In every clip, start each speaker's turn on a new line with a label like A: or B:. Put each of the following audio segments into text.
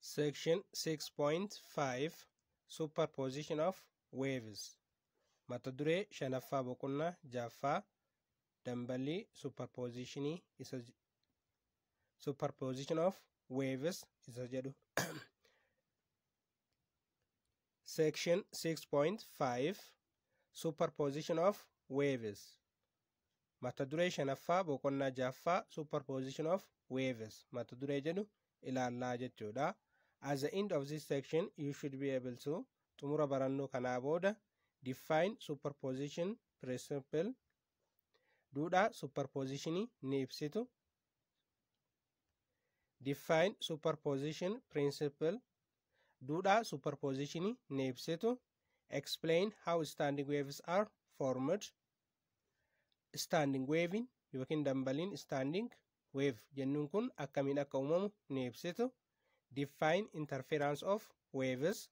A: Section 6.5 Superposition of Waves Mata duree shanaffaa boqonnaa jaaffaa dambalii superpositionii isa j- superposition of waves isa jedhu Section 6.5 Superposition of Waves Mata duree shanaffaa boqonnaa jahaffaa Superposition of Waves mata duree jedhu ilaallaa jechuudha. At the end of this section you should be able to xumura barannoo kanaa booda define superposition principle duudhaa superpositionii ni ibsitu. Define superposition principle duudhaa superpositionii ni ibsitu. Explain how standing waves are formed. Standing wavein yookiin dambaliin standing wave jennuun kun akkamiin akka uumamu ni ibsitu. Define interference of waves.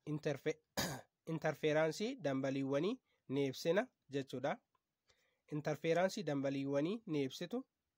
A: Interfe interferaansii dambaliiwwanii ni ibsina jechuudha. Interferaansii dambaliiwwanii ni ibsitu.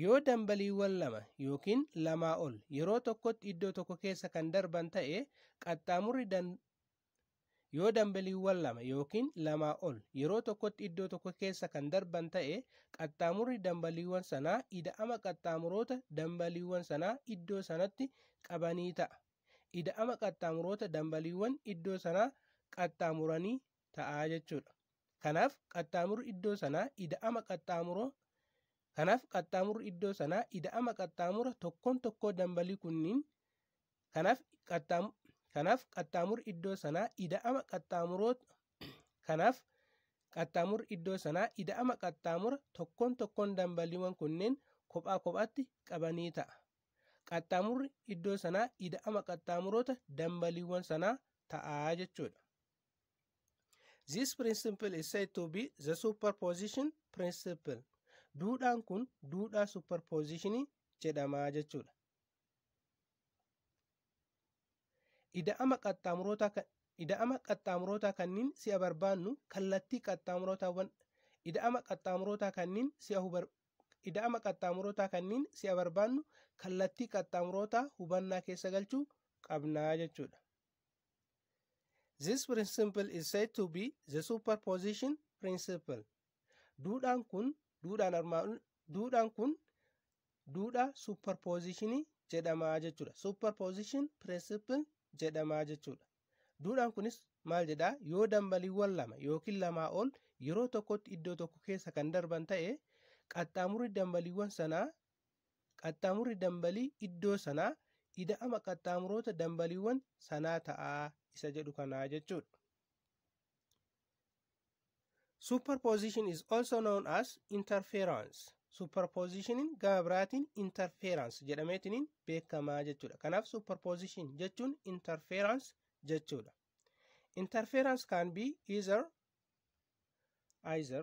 A: Yoo dambaliiwwan lama yookiin lamaa ol yeroo tokkotti iddoo tokko keessa kan darban ta'e qaxxaamurri dan yoo dambaliiwwan lama yookiin lamaa ol yeroo tokkotti iddoo tokko keessa kan darban ta'e qaxxaamurri dambaliiwwan sanaa ida'ama qaxxaamuroota dambaliiwwan sanaa iddoo sanatti qabanii ta'a. Ida'ama qaxxaamuroota dambaliiwwan iddoo sanaa qaxxaamuranii ta'a jechuudha. Kanaaf qaxxaamurri iddoo sanaa ida'ama qaxxaamuroo kanaaf qaxxaamurri iddoo sanaa ida'ama qaxxaamura tokkoon tokkoo dambalii kunniin kanaaf qaxxaamu kanaaf qaxxaamurri iddoo sanaa ida'ama qaxxaamuroo kanaaf qaxxaamurri iddoo sanaa ida'ama qaxxaamura tokkoon tokkoon dambaliiwwan kunneen kophaa kophaatti qabanii ta'a. Qaxxaamurri iddoo sanaa ida'ama qaxxaamuroota dambaliiwwan sanaa ta'a jechuudha. This principle is said to be the superposition principle. Duudhaan kun duudhaa superpositionii jedhamaa jechuudha. Ida'ama qaxxaamurootaa kan ida'ama qaxxaamurootaa kanniin si'a barbaannu kallattii qaxxaamurootaawwan ida'ama qaxxaamurootaa kanniin si'a hubar ida'ama qaxxaamurootaa kanniin si'a barbaannu kallattii qaxxaamurootaa hubannaa keessa galchuu qabnaa jechuudha. This principle is said to be the superposition principle. Duudhaan kun duudhaan armaan duudhaan kun duudhaa superpositionii jedhamaa jechuudha. Superposition principle jedhamaa jechuudha. Duudhaan kunis maal jedhaa yoo dambaliiwwan lama yookiin lamaa ol yeroo tokkotti iddoo tokko keessa kan darban ta'e qaxxaamurri dambaliiwwan sanaa Qaxxaamurri dambalii iddoo sanaa ida'ama qaxxaamuroota dambaliiwwan sanaa ta'a isa jedhu kanaa jechuudha. Superposition is also known as interference. Superpositionin gama biraatiin interference jedhameetiin beekamaa jechuudha. Kanaaf superposition jechuun interference jechuudha. Interference can be either either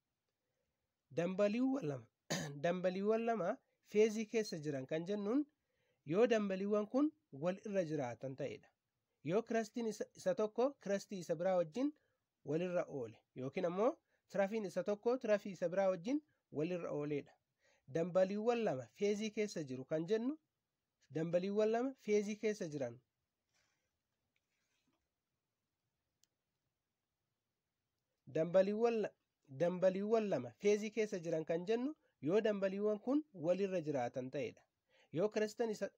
A: Dambaliiwwan lama dambaliiwwan lama feezii keessa jiran kan jennuun yoo dambaliiwwan kun wal irra jiraatan ta'edha. Yoo kirastiin isa tokko kirastii isa biraa wajjin walirra oole yookiin ammoo tirafiin isa tokko tirafii isa biraa wajjin walirra ooledha. Dambaliiwwan lama feezii keessa jiru kan jennu dambaliiwwan lama feezii keessa jiran Dambaliiwwan dambaliiwwan lama feezii keessa jiran kan jennu yoo dambaliiwwan kun walirra jiraatan ta'edha. Yoo kiristan isa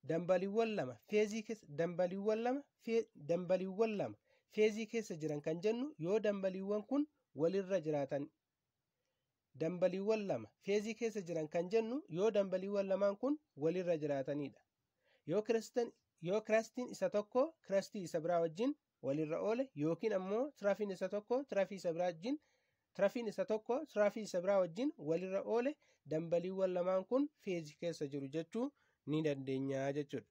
A: dambaliiwwan lama feezii keessa dambaliiwwan lama fee dambaliiwwan lama feezii keessa jiran kan jennu yoo dambaliiwwan kun walirra jiraatan dambaliiwwan lama feezii keessa jiran kan jennu yoo dambaliiwwan lamaan kun walirra jiraatanidha. Yoo kiristan yoo kirastiin isa tokko kirastii isa biraa wajjin walirra oole yookiin ammoo tirafiin isa tokko tirafii isa biraa wajjin tirafiin isa tokko tirafii isa biraa wajjin walirra oole dambaliiwwan lamaan kun feezii keessa jiru jechuu ni dandeenya jechuudha.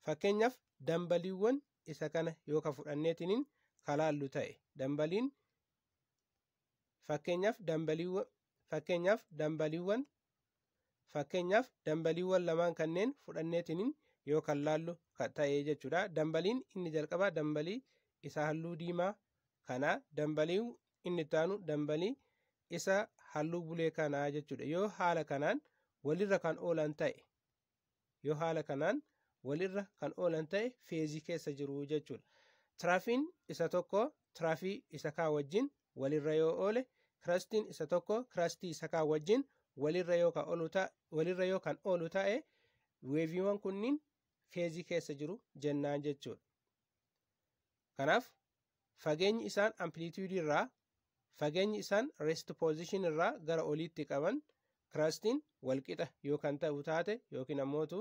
A: Fakkeenyaaf dambaliiwwan isa kana yoo ka fudhanneetiniin kalaallu ta'e dambaliin Fakkeenyaaf dambaliiwwan fakkeenyaaf dambaliiwwan fakkeenyaaf dambaliiwwan lamaan kanneen fudhanneetiin yoo kan laallu ta'e jechuudha. Dambaliin inni jalqabaa dambalii isa halluu diimaa kana dambalii inni itti aanu dambalii isa halluu bulee kanaa jechuudha. Yoo haala kanaan walirra kan oolan ta'e Yoo haala kanaan walirra kan oolan ta'e feezii keessa jiru jechuudha. Tiraafiin isa tokko tiraafii isa kaa wajjin walirra yoo oole kirastiin isa tokko kirastii isa kaa wajjin walirra yoo kan oolu ta- walirra yoo kan oolu ta'e weeviiwwan kunniin feezii keessa jiru jennaan jechuudha. Kanaaf fageenyi isaan amplitude irraa fageenyi isaan rest position irraa gara oliitti qaban kirastiin walqixa yoo kan ta'u taate yookiin ammootu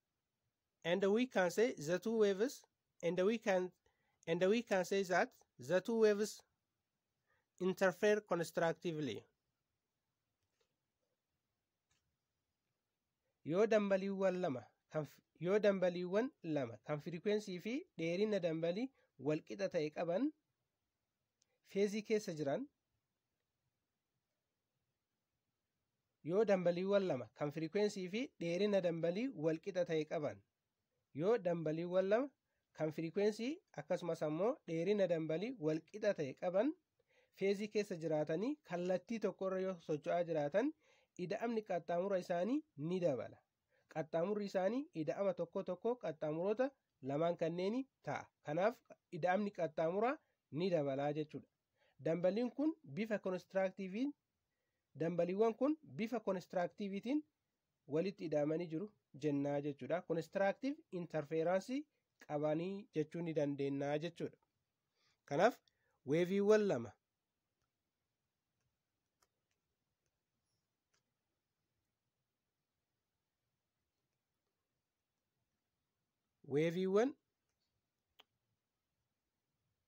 A: and we can say the two waves and we can and we can say that the two waves interfere constructively yoo dambaliiwwan lama kan f- yoo dambaliiwwan lama kan firikwensii fi dheerina dambalii walqixa ta'e qaban feezii keessa jiran yoo dambaliiwwan lama kan firikwensii fi dheerina dambalii walqixa ta'e qaban yoo dambaliiwwan lama kan firikwensii akkasumas ammoo dheerina dambalii walqixa ta'e qaban feezii keessa jiraatanii kallattii tokkorra yoo socho'aa jiraatan ida'amni qaxxaamura isaanii ni dabala qaxxaamurri isaanii ida'ama tokko tokko qaxxaamuroota lamaan kanneenii ta'a kanaaf ida'amni qaxxaamuraa ni dabalaa jechuudha Dambaliin kun bifa konistiraaktiiviin dambaliiwwan kun bifa konistiraaktiiviitiin walitti ida'amanii jiru jennaa jechuudha. Konistiraaktiiv intarfeeraansii qabanii jechuu ni dandeenya jechuudha. Kanaaf weeviiwwan lama weeviiwwan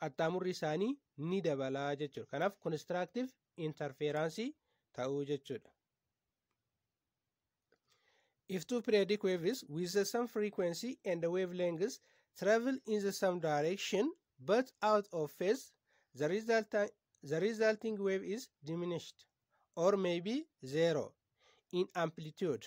A: qaxxaamurri isaanii ni dabala jechuudha. Kanaaf konistiraaktiif intarfeeraansii ta'uu jechuudha. If two periodic waves with the same frequency and the wavelengths travel in the same direction but out of phase, the, result, the resulting wave is diminished or maybe zero in amplitude.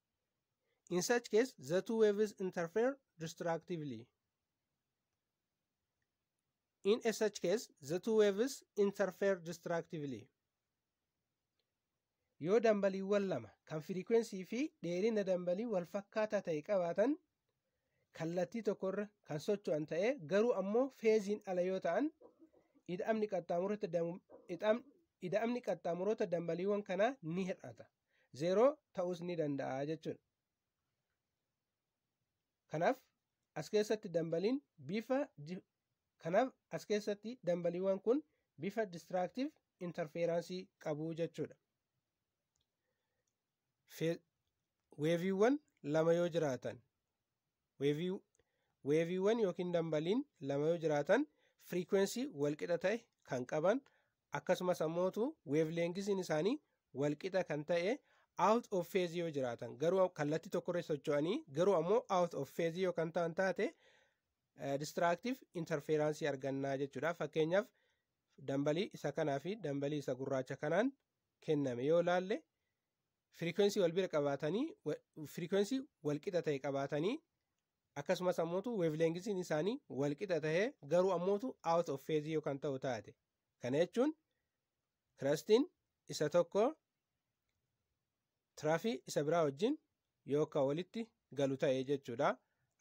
A: In such case, the two waves interfere destructively. In a such case, the two waves interfere destructively. Yoo dambaliiwwan lama kan firikwensii fi dheerina dambalii wal fakkaataa ta'e qabaatan kallattii tokkorra kan socho'an ta'e garuu ammoo feeziin ala yoo ta'an ida'amni qaxxaamuroota dambaliiwwan kanaa ni hir'ata. zeeroo ta'uus ni danda'a jechuudha. Kanaaf as keessatti dambaliin bifa kanaaf as keessatti dambaliiwwan kun bifa distraaktiif intarfeeraansii qabu jechuudha. Weeviiwwan lama yoo jiraatan weevii weeviiwwan yookiin dambaliin lama yoo jiraatan firiikwensii walqixa ta'e kan qaban akkasumas ammootu weevleengisiin isaanii walqixa kan ta'e out of phase yoo jiraatan garuu kallattii tokkorra socho'anii garuu ammoo out of phase yoo kan ta'an taate distraactive interferaansii argannaa jechuudha fakkeenyaaf dambalii isa kanaa fi dambalii isa gurraacha kanaan kenname yoo laalle firikwensii wal bira qabaatanii firikwensii wal qixa ta'e qabaatanii akkasumas ammootu weevleengisiin isaanii wal qixa ta'e garuu ammootu out of phase yoo kan ta'u taate kana jechuun kirastiin isa tokko tiraafii isa biraa wajjin yoo kan walitti galu ta'e jechuudha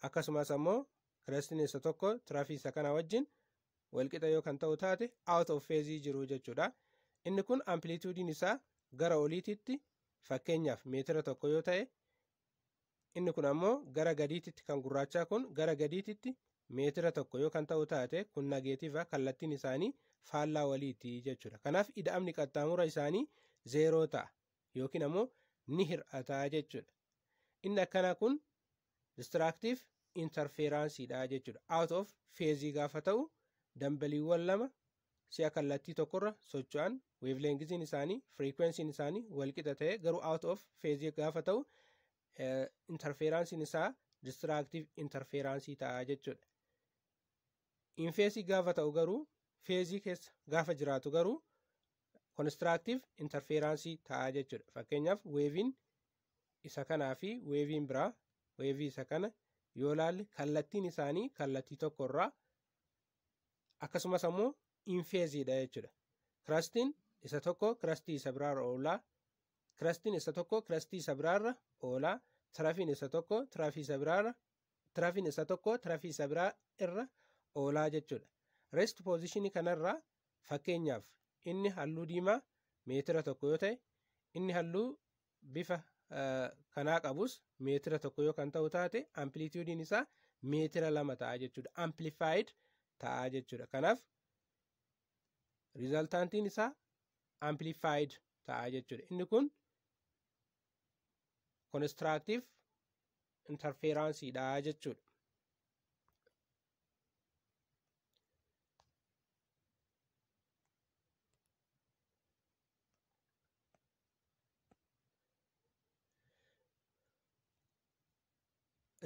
A: akkasumas ammoo kirastiin isa tokko tiraafii isa kana wajjin walqixa yoo kan ta'u taate out of phase jiru jechuudha. Inni kun amplituudiin isaa gara oliititti fakkeenyaaf meetira tokko yoo ta'e inni kun ammoo gara gadiititti kan gurraachaa kun gara gadiititti meetira tokko yoo kan ta'u taate kun nageetiiva kallattiin isaanii faallaa waliiti jechuudha. Kanaaf ida'amni qaxxaamura isaanii zeeroo ta'a yookiin ammoo ni hir'ata jechuudha. Inni akkanaa kun distiraaktiif intarfeeraansiidha jechuudha. Out of feezii gaafa ta'u dambaliiwwan lama si'a kallattii tokkorra socho'an weevleengiziin isaanii firiikwensiin isaanii walqixa ta'e garuu out of feezii gaafa ta'u intarfeeraansiin isaa distiraaktiif intarfeeraansii ta'a jechuudha. Infeesii gaafa ta'u garuu feezii keessa gaafa jiraatu garuu konistiraaktiif intarfeeraansii ta'a jechuudha. Fakkeenyaaf weeviin isa kanaa fi weeviin biraa weevii isa kana yoo ilaalle kallattiin isaanii kallattii tokko irraa akkasumas ammoo infeeziidha jechuudha. Kirastiin isa tokko kirastii isa biraarra oolaa kirastiin isa tokko kirastii isa biraarra oolaa tirafiin isa tokko tirafii isa biraarra tirafiin isa tokko tirafii isa biraa irra oolaa jechuudha. Rest poozishinii kanarraa fakkeenyaaf inni halluu diimaa meetira tokko yoo ta'e inni halluu bifa kanaa qabus meetira tokko yoo kan ta'u taate amplituudiin isaa meetira lama ta'a jechuudha. Amplified ta'a jechuudha. Kanaaf riizaltaantiin isaa amplified ta'a jechuudha. Inni kun konistiraaktiif intarfeeraansiidha jechuudha.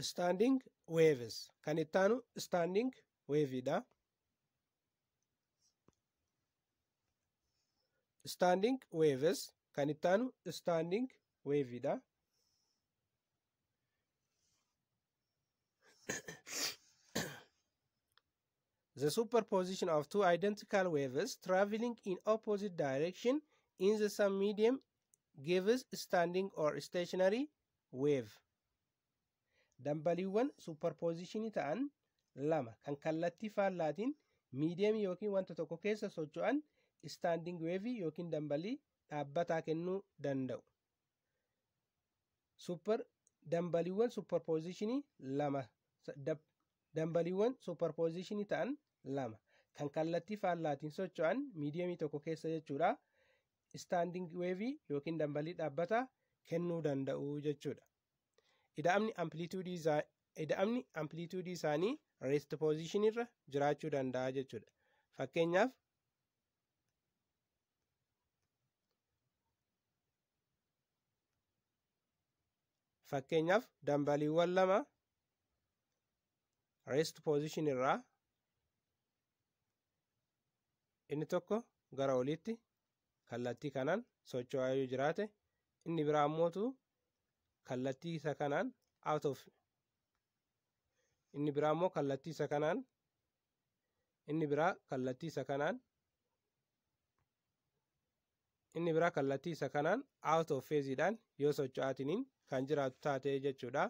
A: standing waves kan itti aanu standing wave dha standing waves kan itti aanu standing wave dha the superposition of two identical waves traveling in opposite direction in the same medium gives standing or stationary wave dambaliiwwan superpositionii ta'an lama kan kallattii faallaatiin miidiyamii yookiin wanta tokko keessa socho'an standing wave yookiin dambalii dhaabbataa kennuu danda'u Super dambaliiwwan superpositionii lama dambaliiwwan superpositionii ta'an lama kan kallattii faallaatiin socho'an miidiyamii tokko keessa jechuudha. Istaanding weevii yookiin dambalii dhaabbataa kennuu danda'u jechuudha. Ida'amni amplituudii isaanii rest position irra jiraachuu danda'a jechuudha. Fakkeenyaaf Fakkeenyaaf dambaliiwwan lama rest position irraa inni tokko gara oliitti kallattii kanaan socho'aa yoo jiraate inni biraa ammootu kallattii isa kanaan out of inni biraa immoo kallattii isa kanaan inni biraa kallattii isa kanaan inni biraa kallattii isa kanaan out of phase dhaan yoo socho'aatiniin kan jiraatu taate jechuudha.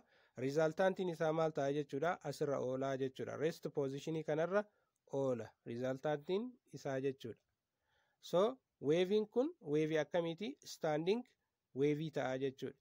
A: Rizaaltaantiin isaa maal ta'a jechuudha asirra oolaa jechuudha. Rest positionii kanarra oola rizaaltaantiin isaa jechuudha. So weeviin kun weevii akkamiiti standing weevii ta'a jechuudha.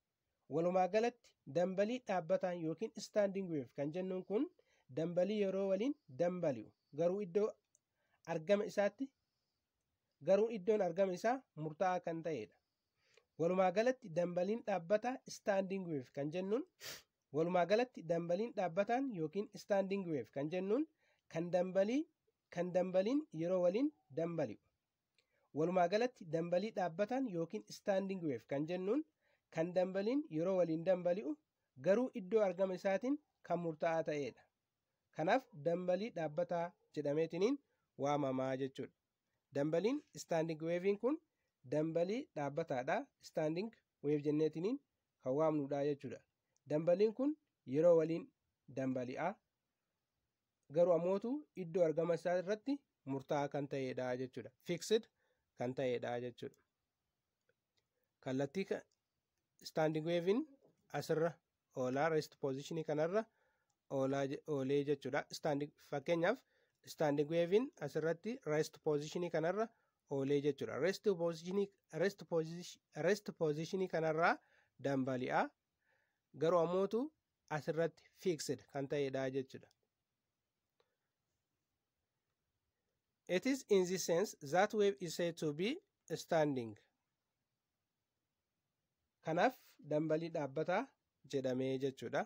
A: Walumaa galatti dambalii dhaabbataan yookiin standing wave kan jennuun kun dambalii yeroo waliin dambali'u garuu iddoo argama isaatti garuu iddoon argama isaa murtaa'aa kan ta'edha. Walumaa galatti dambaliin dhaabbataa standing wave kan jennuun walumaa galatti dambaliin dhaabbataan yookiin standing wave kan jennuun kan dambalii kan dambaliin yeroo waliin dambali'u. Walumaa galatti dambalii dhaabbataan yookiin standing wave kan jennuun kan dambaliin yeroo waliin dambali'u garuu iddoo argama isaatiin kan murtaa'aa ta'eedha. Kanaaf dambalii dhaabbataa jedhameetiniin waamamaa jechuudha. Dambaliin standing wave'n kun dambalii dhaabbataadha. Standing wave jenneetiniin kan waamnudha jechuudha. Dambaliin kun yeroo waliin dambali'a. garuu ammootu iddoo argama isaa irratti murtaa'aa kan ta'edha jechuudha. Fixed kan ta'edha jechuudha. Kallattii standing wave'n asirra oolaa rest position kanarra oolee jechuudha. Standing fakkeenyaaf standing wave'n asirratti rest position kanarra oolee jechuudha. Rest position rest position rest position kanarraa dambali'a garuu ammootu asirratti fixed kan ta'edha jechuudha. It is in this sense that wave is said to be standing. Kanaaf dambalii dhaabbataa jedhamee jechuudha.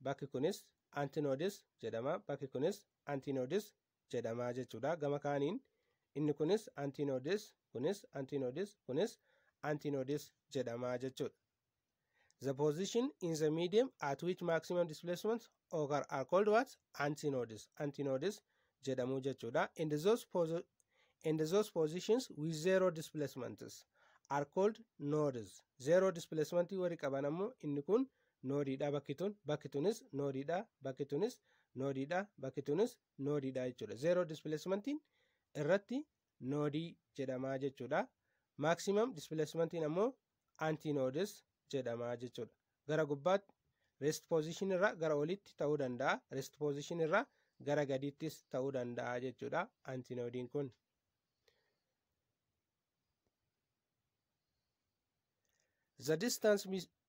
A: bakki kunis antinoodis jedhama bakki kunis antinoodis jedhama jechuudha gama kaaniin inni kunis antinoodis kunis antinoodis kunis antinoodis jedhama jechuudha the position in the medium at which maximum displacement occur are called what antinoodis antinoodis jedhamu jechuudha and those posi- and those positions with zero displacements are called nodes zero displacement warri qaban ammoo inni kun noodiidha bakki tun bakki tunis noodiidha bakki tunis noodiidha bakki tunis noodiidha jechuudha zeeroo dispileesimantiin irratti noodii jedhamaa jechuudha maaksiimam dispileesimantiin ammoo antiinoodis jedhamaa jechuudha gara gubbaatti rest position irraa gara olitti ta'uu danda'a rest position irraa gara gadiittis ta'uu danda'a jechuudha antiinoodiin kun. The distance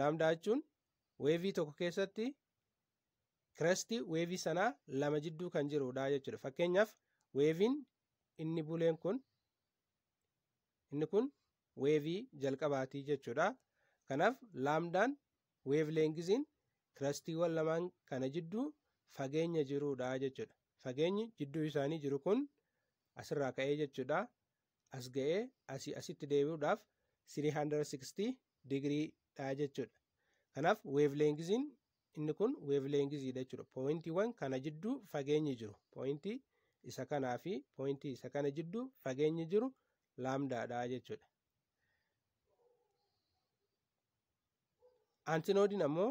A: Laamdaa jechuun weevii tokko keessatti kirestii weevii sanaa lama jidduu kan jirudha jechuudha. Fakkeenyaaf weeviin inni buleen kun inni kun weevii jalqabaati jechuudha. Kanaaf laamdaan weev leengiziin kirastiiwwan lamaan kana jidduu fageenya jirudha jechuudha. Fageenyi jidduu isaanii jiru kun asirraa ka'ee jechuudha. as ga'ee asii asitti deebi'uudhaaf 360 digirii dha jechuudha. Kanaaf weevleengiziin inni kun weevleengiziidha jechuudha. Pooyintiiwwan kana jidduu fageenyi jiru. Pooyintii isa kanaa fi pooyintii isa kana jidduu fageenyi jiru laamdaadha jechuudha. Antinoodiin ammoo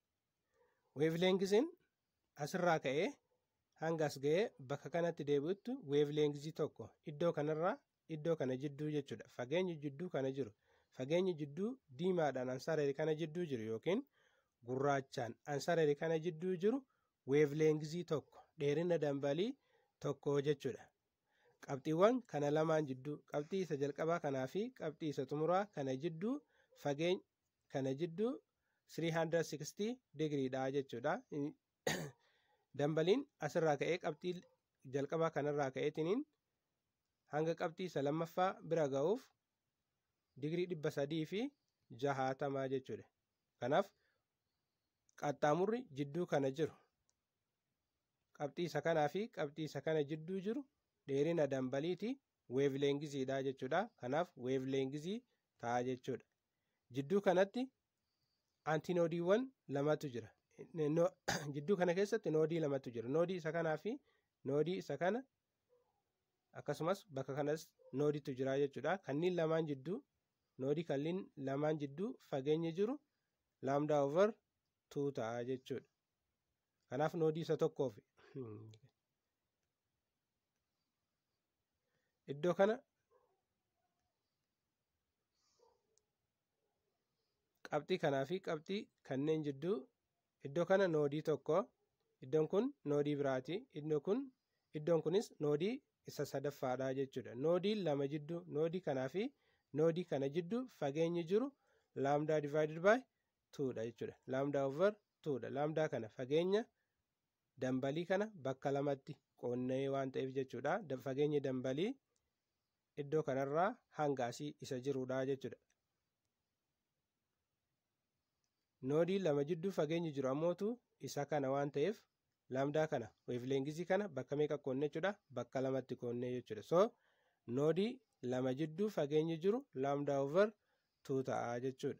A: Weevleengisiin asirraa ka'ee hanga as ga'ee bakka kanatti deebi'utti weevleengizii tokko iddoo kanarraa iddoo kana jidduu jechuudha. Fageenyi jidduu kana jiru. Fageenyi jidduu diimaadhaan ansareeri kana jidduu jiru yookiin gurraachaan ansareeri kana jidduu jiru weevleengizii tokko dheerina dambalii tokko jechuudha. Qabxiiwwan kana lamaan jidduu qabxii isa jalqabaa kanaa fi qabxii isa xumuraa kana jidduu fageeny kana jidduu 360 degree dha jechuudha. Dambaliin asirraa ka'ee qabxii jalqabaa kanarraa ka'eetiniin hanga qabxii isa lammaffaa bira ga'uuf digirii dhibba sadii fi jahaatamaa jechuudha. Kanaaf qaxxaamurri jidduu kana jiru qabxii isa kanaa fi qabxii isa kana jidduu jiru dheerina dambaliiti weevleengizii dha jechuudha. Kanaaf weevleengizii ta'a jechuudha. Jidduu kanatti antinoodiiwwan lamatu jira. Jidduu kana keessatti noodii lamatu jira. Noodii isa kanaa fi noodii isa kana akkasumas bakka kanas noodiitu jira jechuudha. Kanneen lamaan jidduu noodii kanneen lamaan jidduu fageenyi jiru laamdaa over 2 ta'a jechuudha. Kanaaf noodii isa tokkoof iddoo kana qabxii kanaa fi qabxii kanneen jidduu iddoo kana noodii tokko iddoon kun noodii biraati iddoo kun iddoon kunis noodii isa sadaffaadha jechuudha noodii lama jidduu noodii kanaa fi noodii kana jidduu fageenyi jiru laamdaa divaayidid baay tuudha jechuudha laamdaa over tuudha laamdaa kana fageenya dambalii kana bakka lamatti qoonnee waan ta'eef jechuudha fageenyi dambalii iddoo kanarraa hanga asii isa jiruudha jechuudha. Noodii lama jidduu fageenyi jiru ammootu isa kana waan ta'eef laamdaa kana weevleengizii kana bakka meeqa qoonne jechuudha bakka lamatti qoonne jechuudha. So noodii lama jidduu fageenyi jiru laamdaa over tuu ta'a jechuudha.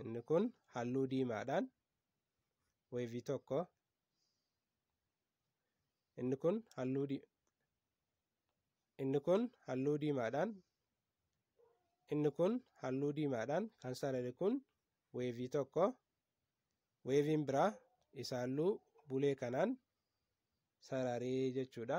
A: inni kun halluu diimaadhaan weevii tokko inni kun halluu di inni kun halluu diimaadhaan inni kun halluu diimaadhaan kan sarare kun weevii tokko weeviin biraa isa halluu bulee kanaan sararee jechuudha.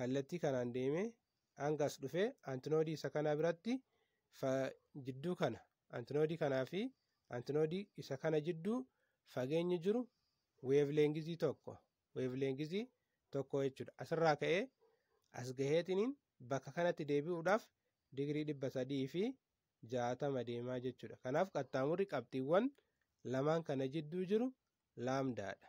A: kallattii kanaan deemee hanga as dhufee antinoodii isa kanaa biratti jidduu kana antinoodii kanaa fi antinoodii isa kana jidduu fageenyi jiru weevleengizii tokko weevleengizii tokko jechuudha. Asirraa ka'ee as gaheetiniin bakka kanatti deebi'uudhaaf digirii dhibba sadii fi jaatama deemaa jechuudha. Kanaaf qaxxaamurri qabxiiwwan lamaan kana jidduu jiru laamdaadha.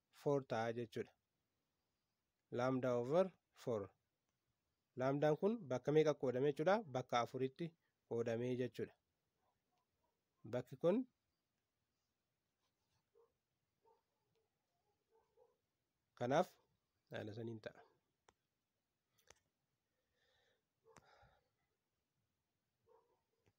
A: 4 ta'a jechuudha. Laamdaa over 4. Laamdaan kun bakka meeqa qoodame jechuudha? Bakka afuritti qoodamee jechuudha. Bakki kun kanaaf haala saniin ta'a.